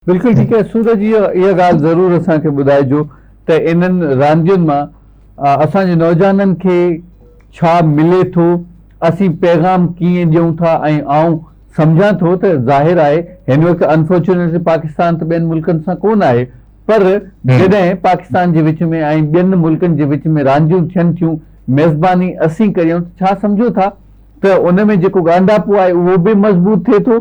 بلڪل ٺيڪ آهي سورج جي اها ڳالهه ضرور اسان کي ٻڌائجو ته انهن راندين مان اسان جي نوجوانن کي ڇا ملي ٿو اسين پيغام ڪيئن ڏيون ٿا ۽ آئون سمجهان ٿو ته ظاهر آهي هن وقت انفارچونيٽلي پاڪستان ته ٻين ملڪن سان ڪون آهي پر جڏهن پاڪستان جي وچ ۾ ۽ ٻين ملڪن جي وچ ۾ رانديون ٿين ٿيون ميزباني اسين ڪريون ته ڇا سمجهو ٿا ته ان ۾ جيڪو ڳانڍاپو آهي اهو به مضبوط ٿئي ٿو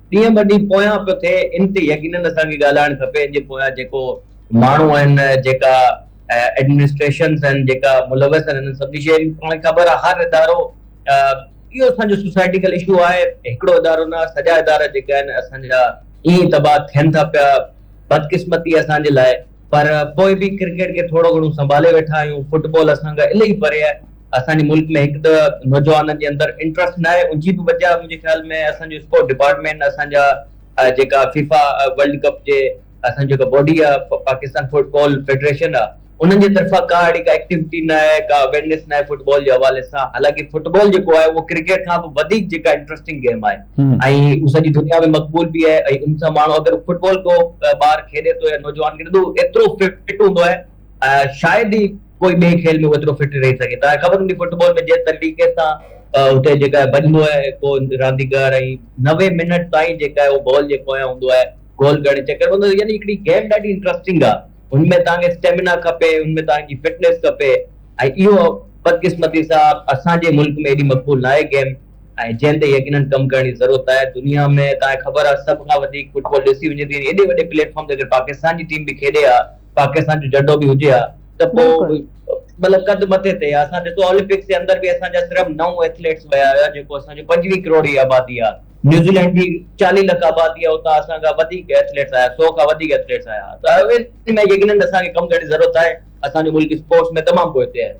ڏينهن ٻه ڏينهن پويان پيو ٿئي ان تي يقينن اسان کي ڳالهائڻ کپي ان جي پويان جيڪو ماڻهو آهن جيڪا ايڊمنسٽريشنز آهن جيڪا ملوث آهن انهن سڀني شين جي پاڻ کي خبر آهي هر ادارو اهو اسان جو سوسائيٽيڪل اشو آهي هڪڙو ادارو نه سڄا ادارا جيڪا آهن اسان جا ائين تباهه ٿين ٿا پيا بدقسمتي اسان جي لاء پر پوء به ڪرڪيٽ کي ٿورو گهڻو سنڀالي ويٺا آهيون، فٽبال اسان کان الائي پري آهي، اسان جي ملڪ ۾ هڪ ته نوجوانن جي اندر انٽرسٽ نه آهي، ان جي به وجه منهنجي خيال ۾ اسان جو اسپورٽ ڊپارٽمينٽ اسان جا جيڪا فيفا ورلڊ ڪپ جي اسان جي جيڪا باڊي آهي پاڪستان فٽبال فيڊريشن آهي انهن جي طرفان ڪا اهڙي ڪا ايڪٽيوٽي نه آهي ڪا اويرنيس نه آهي فٽبال جي حوالي سان حالانڪه فٽبال جيڪو آهي اهو ڪرڪيٽ کان به وڌيڪ جيڪا انٽرسٽنگ گيم آهي. ۽ هو سڄي دنيا ۾ مقبول به آهي ۽ ان سان ماڻهو اگر فٽبال ڪو ٻار کيڏي ٿو يا نوجوان کيڏي ٿو ايترو فٽ هوندو آهي شايد ئي ڪوئي ٻئي کيل ۾ هو ايترو فٽ رهي سگهي توهان کي خبر هوندي فٽبال ۾ جنهن طريقي سان اتي جيڪا ڀڄندو آهي ڪو رانديگر ۽ نوي منٽ تائين جيڪا آهي اهو بال جي پويان هوندو آهي گول ڪرڻ جي چڪر ۾ هوندو يعني هڪڙي گيم ڏاڍي انٽرسٽنگ آهي هن ۾ توهان کي اسٽيمنا کپي هن ۾ توهان جي فٽنس کپي ۽ اهو بدقسمتي سان اسان جي ملڪ ۾ ايڏي مقبول ناهي گيم ۽ جنهن تي يقينن ڪم ڪرڻ جي ضرورت آهي دنيا ۾ توهان کي خبر آهي سڀ کان وڌيڪ فٽبال ڏسي وڃي ٿي ايڏي وڏي پليٽ فارم تي اگر پاڪستان جي ٽيم به کيڏي ها پاڪستان جو جهنڊو به هجي ها ته پوء بلڪل. مطلب قد مٿي تي ها اسان ڏسو اولمپڪس جي اندر به اسان جا صرف نو ايٿليٽس ويا هيا جيڪو اسان جو پنجويهه ڪروڙ جي آبادي آهي نيوزيلينڊ جي چاليهه لک آبادي آهي اتان اسان کان وڌيڪ ايٿليٽس آيا سو کان وڌيڪ ايٿليٽس آيا ها ته ان ۾ يقينن اسان کي ڪم ڪرڻ جي ضرورت آهي اسان جو ملڪ اسپورٽس ۾ تمام پوئتي آهي.